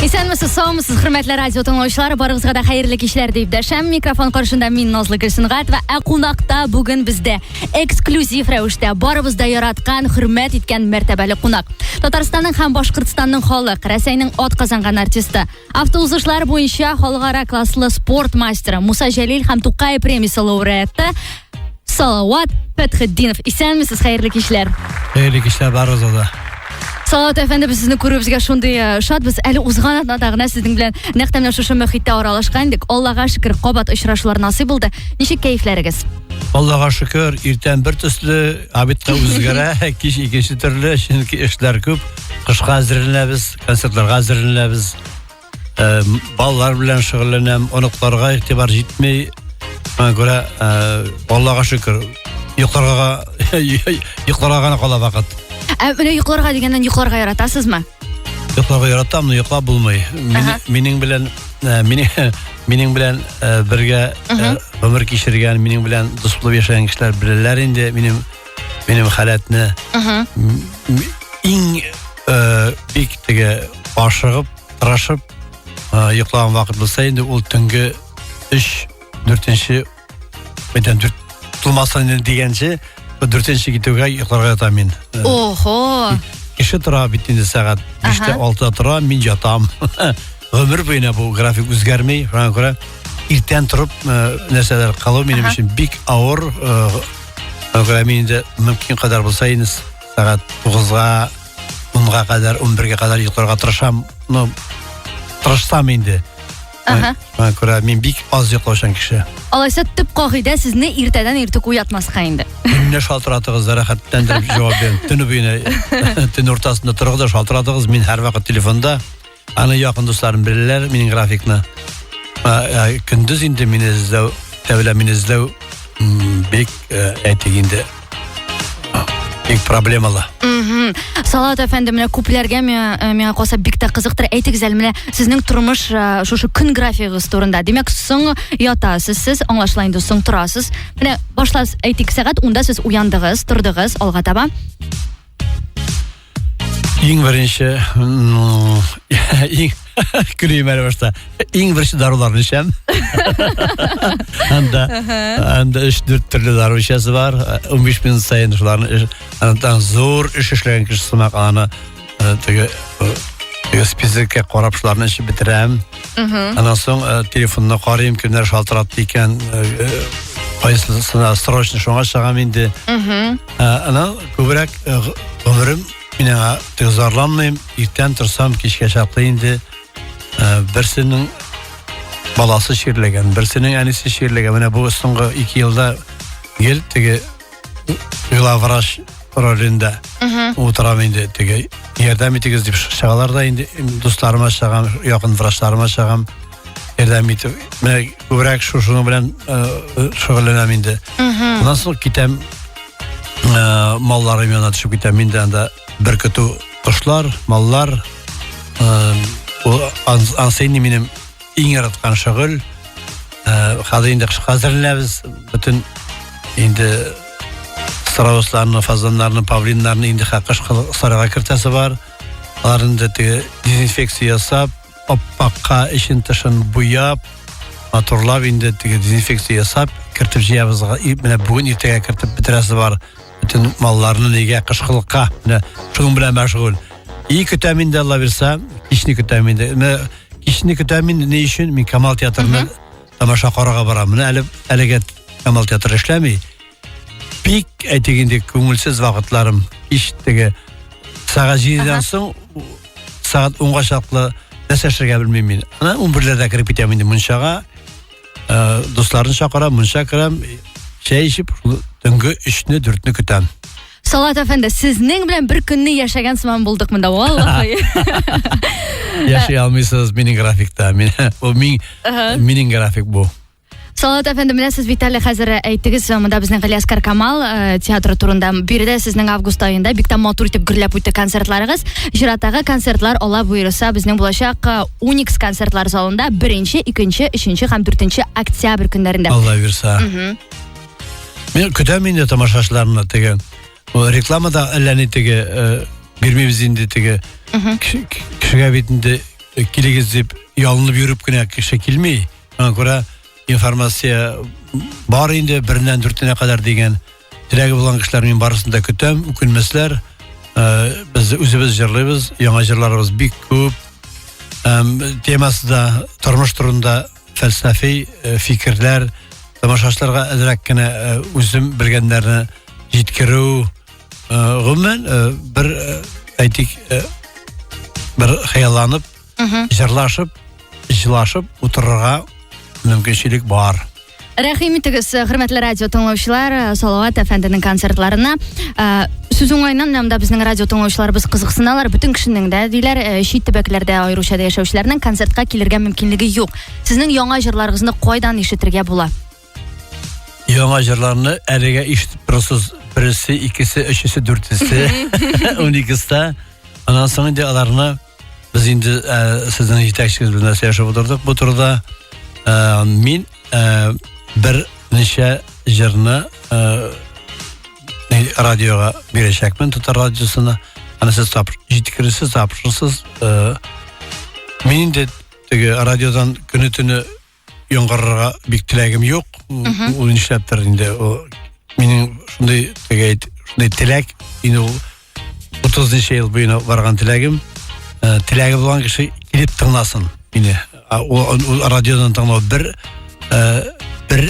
Исәнмесез, саумысыз, хөрмәтле радио тыңлаучылар, барыгызга да хәерле кичләр дип дәшәм. Микрофон каршында мин Назлы Гөлсенгат ва ә кунакта бүген бездә эксклюзив рәвештә барыбыз да яраткан, хөрмәт иткән мәртәбәле кунак. Татарстанның һәм Башкортстанның халык, Рәсәйнең ат казанган артисты, автоузышлар буенча халыкара класслы спорт мастеры Муса Җәлил һәм Тукай премиясе лауреаты Салават Пәтхетдинов. Исәнмесез, хәерле кичләр. Хәерле кичләр барыгызга да. Салават әфәнде, без сезне күрүебезгә шундый э, шатбыз. Әле узган атнада гына сезнең белән нәкъ менә шушы мөхиттә аралашкан идек. Аллага шөкер, кабат очрашулар насыйп булды. Ничек кәефләрегез? Аллага шөкер, иртән бер төсле, обедка үзгәрә, кич икенче төрле, чөнки эшләр күп. Кышка әзерләнәбез, концертларга әзерләнәбез. балалар белән шөгыльләнәм оныкларга игътибар җитми шуңа күрә аллага шөкер йокларга йокларга гына кала вакыт ә менә йокларга дигәннән йокларга яратасызмы йокларга яратам но йоклап булмый минем белән минем белән бергә гомер кичергән минем белән дус булып яшәгән кешеләр беләләр инде минем минем халәтне иң э, бик теге ашыгып тырышып э, йоклаган вакыт булса инде ул төнге өч дүртенче мәйтәм дүрт тулмастан дигәнче дүртенче китүгә йокларга ятам мин э, охо кеше тора бит инде сәгать биштә алтыда тора мин ятам гомер буена бу график үзгәрми шуңа күрә иртән торып нәрсәләр кылу минем өчен бик авыр программы инде мөмкин кадәр булса инде сәгать тугызга онга кадәр он бергә кадәр йокларга тырышам ну тырышсам инде Ага. Мә күрә мин бик аз йоклаучан кеше. Алайса төп кагыйдә сезне иртәдән иртүк уятмаска инде. Мине шалтыратыгыз, рәхәтләндереп җавап бирәм. Төне буена, төн уртасында торыгыз да шалтыратыгыз. Мин һәрвакыт телефонда. Аны якын дусларым беләләр, минем графикны. Көндез инде мине эзләү, тәүлә мине эзләү бик э, әйтик инде бик проблемалы. Мм. Салат әфәнде, менә күпләргә миңа э, миңа калса бик тә кызыктыр. Әйтегез әле менә сезнең тормыш э, шушы көн графигыгыз турында. Димәк, соң ятасыз сез, аңлашыла инде, соң торасыз. Менә башлас әйтик, сәгать 10-да сез уяндыгыз, тордыгыз алга таба. Иң беренче Күрейм әле башта. Иң беренче даруларны эчәм. Анда анда 3-4 төрле дару эчәсе бар. 15 минут сайын шуларны андан зур эш эшләгән кеше сымак аны э, теге э, теге списокка карап шуларны эчеп бетерәм. Аннан соң э, телефонны карыйм, кемнәр шалтыратты икән, кайсысына срочно шуңа чыгам инде. Мм. Ә, анау күбрәк э, г- гомерем мин аңа төгзарланмыйм. Иртән торсам, кичкә чаклы инде э, берсенең баласы чирләгән, берсенең әнисе чирләгән. Менә бу соңгы ике елда гел теге главврач ролендә утырам инде теге ярдәм итегез дип чыгалар да инде дусларыма чыгам, якын врачларыма чыгам. ярдәм итү. Менә күбрәк шушының белән э, шөгыльләнәм инде. Моннан соң китәм э, малларым янына төшеп китәм. Мин дә анда бер көтү кошлар, маллар. Э, ул ансыйны минем иң яраткан шөгыль. Э, хәзер инде хәзерләбез бөтен инде страусларны, фазаннарны, павлиннарны инде хакыш сарайга кертәсе бар. Алар инде дезинфекция ясап, аппакка эчен тышын буяп матурлап инде теге дезинфекция ясап кертеп җыябыз менә бүген иртәгә кертеп бетерәсе бар бөтен малларны нигә кышкылыкка менә шуның белән мәшгуль и көтәм инде алла бирса кичне көтәм инде менә кичне көтәм инде ни өчен мин камал театрына тамаша карарга барам менә әле әлегә камал театры эшләми бик әйтик инде күңелсез вакытларым һич теге сәгать җидедән соң сәгать унга чаклы нәрсә эшләргә белмим мин ана унберләрдә кереп китәм инде мунчага ә, дусларны чакырам мунча керәм чәй эчеп төнге өчне дүртне көтәм Салат әфәнде, сезнең белән бер көнне яшәгән сыман булдык монда, валлахи. Яши алмыйсыз минем графикта. Мин, бу мин, минем график бу. Салат әфәнде, менә сез бит әле хәзер әйттегез, монда безнең Галиаскар Камал э, театры турында. Биредә сезнең август аенда бик тә матур итеп гөрләп үтте концертларыгыз. Чираттагы концертлар ала буйрыса безнең булачак э, Уникс концертлар залында 1 нче 2 нче 3 нче һәм 4 нче октябрь көннәрендә. Алла бирса. Мин көтәм инде тамашачыларны теге. Ул рекламада әллә ни теге э, бирмибез инде теге. Кеше- Кешегә бит инде э, килегез дип ялынып йөреп кенә кеше килми. Шуңа күрә информация бар инде, береннән дүртенә кадәр дигән теләге булган кешеләр мин барысын да көтәм, үкенмәсләр. Э, без үзебез җырлыйбыз, яңа җырларыбыз бик күп. Һәм темасы да тормыш турында фәлсәфи э, фикерләр, тамашачыларга әзрәк кенә э, үзем белгәннәрне җиткерү. Гомумән, бер әйтик, бер хыялланып җырлашып, җылашып утырырга мөмкинчелек бар. Рәхим итегез, хөрмәтле радио тыңлаучылар, Салават әфәнденең концертларына. Э, сүз уңайыннан монда безнең радио тыңлаучыларыбыз кызыксыналар. Бөтен кешенең дә диләр, э, чит төбәкләрдә аеруча да яшәүчеләрнең концертка килергә мөмкинлеге юк. Сезнең яңа җырларыгызны кайдан ишетергә була? Яңа җырларны әлегә ишетеп торасыз. Бересе, икесе, өчесе, дүртесе, уникеста. Аннан соң инде аларны без инде ә, сезнең җитәкчегез белән сөйләшеп утырдык бу турыда. Ә, мин ә, бер ничә җырны ә, радиога бирәчәкмен, татар радиосына. Аны сез тап, җиткересез, тапшырсыз. Ә, мин инде теге радиодан көне-төне яңгырарга бик теләгем юк. Ул нишләптер инде ул минем шундый теге шундый теләк инде ул 30 ничә ел буена барган теләгем. Э, теләге булган кеше килеп тыңласын мине. Ул радиодан тыңлау бер э, бер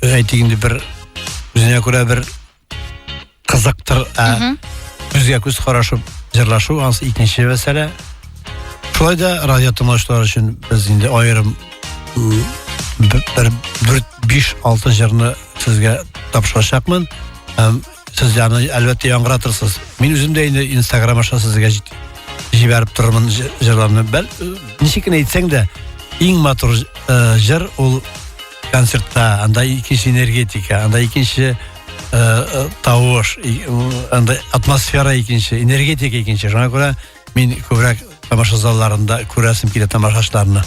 әйтик инде бер үзенә күрә бер кызыктыр ә күзгә күз карашып җырлашу анысы икенче мәсьәлә шулай да радио тыңлаучылар өчен без инде аерым бер дүрт биш алты җырны сезгә тапшырачакмын һәм сез аны әлбәттә яңгыратырсыз мин үзем дә инде инстаграм аша сезгә җибәреп торырмын җырларны бәл ничек кенә әйтсәң дә иң матур э, җыр ул концертта анда икенче энергетика анда икенче тавыш анда атмосфера икенче энергетика икенче шуңа күрә мин күбрәк тамаша залларында күрәсем килә тамашачларны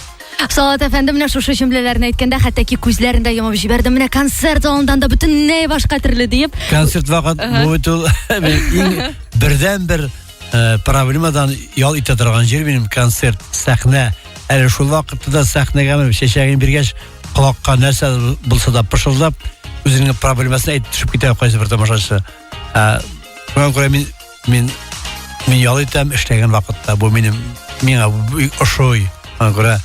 Салат әфәнде менә шушы җөмләләрне әйткәндә хәтта ки күзләрен дә йомып җибәрде. Менә концерт залыннан да бөтенләй башка төрле диеп. Концерт вакыт бу бит ул иң бердәнбер э, проблемадан ял итә торган җир минем концерт сәхнә әле шул вакытта да сәхнәгә менеп чәчәген биргәч колакка нәрсә булса да пышылдап үзенең проблемасын әйтеп төшеп китә кайсы бер тамашачы э, шуңа күрә мин мин мин ял итәм эшләгән вакытта бу минем миңа ошый шуңа күрә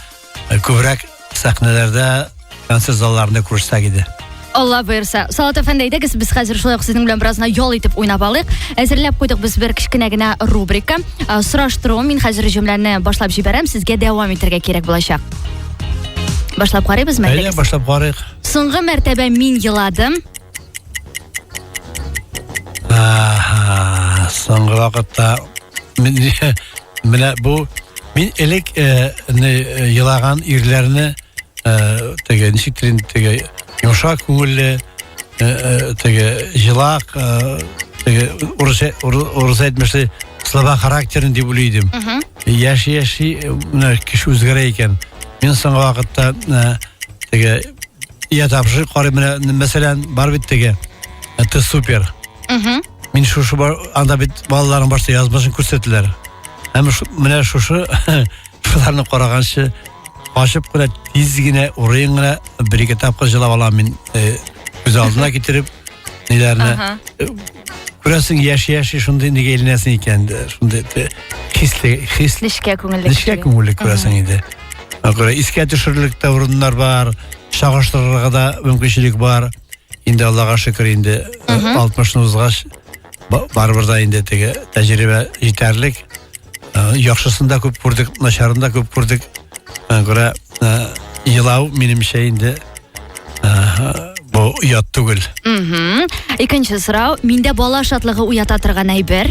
Күбрәк сәхнәләрдә, концерт залларында күрсәк иде. Алла боерса. Салат әфәнде әйдәгез, без хәзер шулай ук сезнең белән беразына ял итеп уйнап алыйк. Әзерләп куйдык без бер кечкенә генә рубрика. Э, Сораштыру, мин хәзер җөмләне башлап җибәрәм, сезгә дәвам итәргә кирәк булачак. Башлап карыйбызмы? Әйдә, башлап карыйк. Соңгы мәртәбә мин еладым. соңгы вакытта менә бу мин элек э, э, елаган ирләрне э, теге ничек тирин теге йомшак күңелле теге җылак теге урыс әйтмешли слова характерын дип уйлый идем яши яши менә кеше үзгәрә икән мин соңгы вакытта теге Я тапшы карый менә мәсәлән бар бит теге. Это супер. Угу. Мин шушы бар анда бит балаларның барсы язмышын күрсәтеләр. Һәм менә шушы шуларны караганчы ачып кына тиз генә урын гына бер ике тапкыр җылап алам мин э, күз алдына китереп ниләрне э, күрәсең яши яши шундый нигә әйләнәсең икән шундый хисле хис нечкә күңелле нечкә күңелле күрәсең инде күрә искә төшерерлек тә урыннар бар чагыштырырга да мөмкинчелек бар инде аллага шөкер инде алтмышны узгач барыбер да инде теге тәҗрибә җитәрлек яхшысын да күп күрдек начарын да күп күрдек күрә елау минемчә инде бу оят түгел икенче сорау миндә бала шатлыгы уята торган әйбер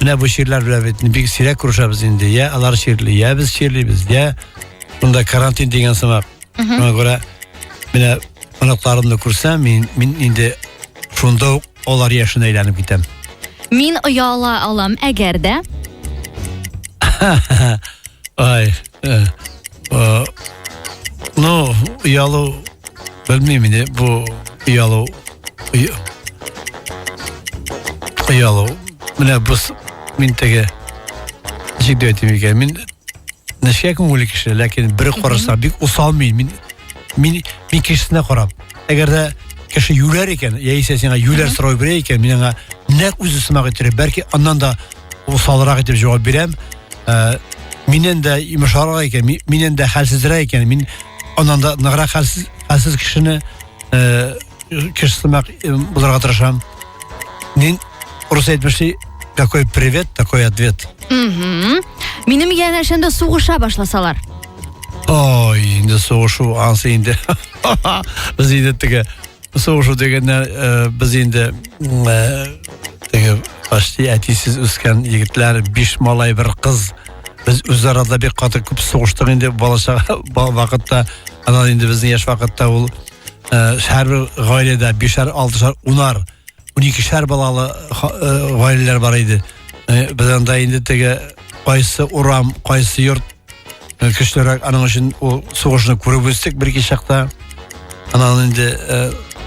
Менә бу чирләр белән бит бик сирәк күрешәбез инде. Йә алар чирли, йә без чирлибез, йә монда карантин дигән сымак. Шуңа күрә менә оныкларымны күрсәм, мин, мин инде шунда ук алар яшенә әйләнеп китәм. Мин ояла алам, әгәр дә. Ай, Э, э, ну, ялу, белмим инде, бу ялу, ялу. Менә бу мин теге ничек дип әйтим икән, мин нечкә күңелле кеше, ләкин бер караса бик усал мин, мин мин мин кешесенә карап. Әгәр дә кеше юләр икән, яисә сиңа юләр сорау бирә икән, мин аңа нәкъ үзе сымак иттереп, бәлки аннан да усалрак итеп җавап бирәм. Ә, миннән дә имешарак икән, миннән дә хәлсезрәк икән. Мин аннан да ныграк хәлсез, хәлсез кешене ә, кеше сымак булырга тырышам. Мин урыс әйтмешли, какой привет, такой ответ. Угу. Минем янәшәм дә сугыша башласалар. Ой, инде сугышу ансы инде. Без инде теге Соңгы дигәндә э, без инде э, теге почти әтисез үскән егетләр, биш малай, бер кыз. Без үзарада бик каты күп сугыштык инде балачак вакытта. Аннан инде безнең яшь вакытта ул э, һәрбер гаиләдә бишәр, алтышар, унар уникешәр балалы гаиләләр бар иде. Э, без анда инде теге кайсы урам, кайсы йорт э, көчлерәк, аның өчен ул сугышны күреп үстек бер ике чакта. Анан инде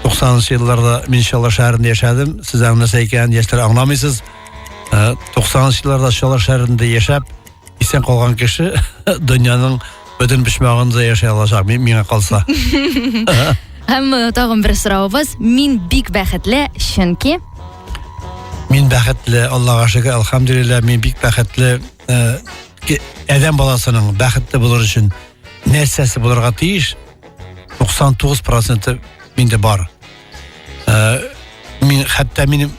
90нчы э, елларда мин Шала шәһәрендә яшәдем. Сез аңласа икән, яшьләр аңламыйсыз. 90нчы елларда Шала шәһәрендә яшәп, исән калган кеше дөньяның бөтен почмагында яшәй алачак, миңа калса. Һәм э, тагын бер соравыбыз, мин бик бәхетле, чөнки Мин бәхетле, Аллага шөкер, алхамдулилла, мин бик бәхетле. Э, адәм баласының бәхетле булыр өчен нәрсәсе булырга тиеш? 99% миндә бар. Э, мин хәтта минем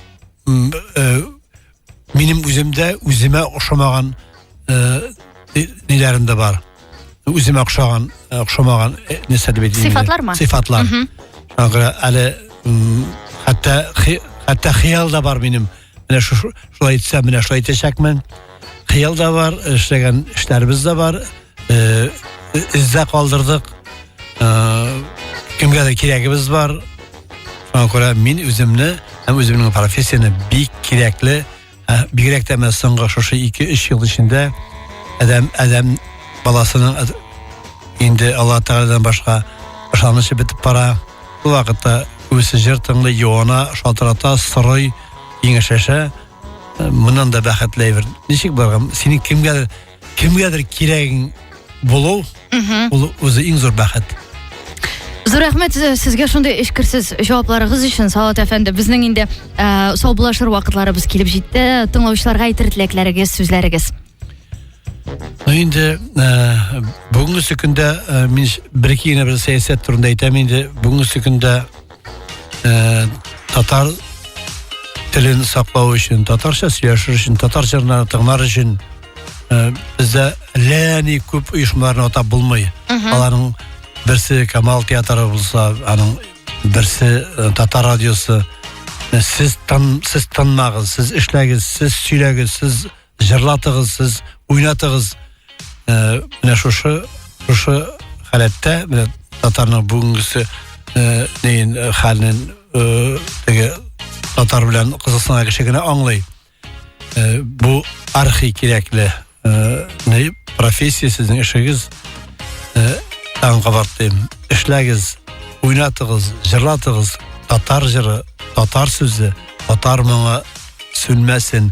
Минем үземдә үземә ошамаган э, ниләрем дә бар. Үземә ошаган, э, ошамаган э, нәрсә дип әйтәм. Сыйфатлар ма? Сыйфатлар. Шуңа күрә әле хәтта хәтта хыял да бар минем. Менә шулай итсәм, менә шулай итәчәкмен. Хыял да бар, эшләгән эшләребез дә бар. э, эздә калдырдык. Э, кемгәдер кирәгебез бар. Шуңа күрә мин үземне һәм үземнең профессияне бик кирәкле, ә, бигрәк тә менә соңгы шушы 2-3 ел эчендә адәм адәм баласының әд- инде Алла Тәгаләдән башка ышанычы бетеп бара. Бу вакытта үзе җыр тыңлый, юана, шалтырата, сорый, киңәшләшә. Э, Моннан да бәхетле әйбер. Ничек барган? Синең кемгәдер Кемгәдер кирәгең булу, ул үзе иң зур бәхет. Зур рәхмәт э, сезгә шундый эчкерсез җавапларыгыз өчен, Салат әфәнде. Безнең инде э, саубуллашыр вакытларыбыз килеп җитте. Тыңлаучыларга әйтер теләкләрегез, сүзләрегез. Ну инде э, бүгенге көндә э, мин бер-ике генә бер сәясәт турында әйтәм инде. Бүгенге көндә ә, татар телен саклау өчен татарча сөйләшер өчен татар җырларын тыңлар өчен ә, бездә ләни күп оешмаларны атап булмый аларның берсе камал театры булса аның берсе э, татар радиосы э, сіз тын сіз тынмагыз сіз эшләгез сіз сөйләгез сіз Җырлатыгыз сез, уйнатыгыз. Э, менә шушы шушы халәттә менә татарның бүгенгесе э, нин э, хәлен теге татар белән кызыксынган кеше генә аңлый. Бу архи кирәкле не профессия сезнең эшегез. Таң кабаттым. Эшләгез, уйнатыгыз, җырлатыгыз. Татар җыры, татар сүзе, татар моңы сүнмәсен.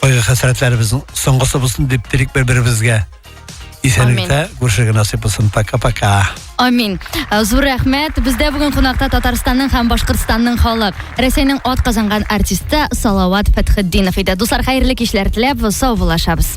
Кайгы хәсрәтләребезнең соңгысы булсын дип телик бер-беребезгә. Исәнлектә күршегә насыйп булсын. Пока-пока. Амин. Э, зур рәхмәт. Бездә бүген кунакта Татарстанның һәм Башкортстанның халык, Рәсәйнең ат казанган артисты Салават Фәтхетдинов иде. Дуслар, хәерле кичләр теләп, сау булашабыз.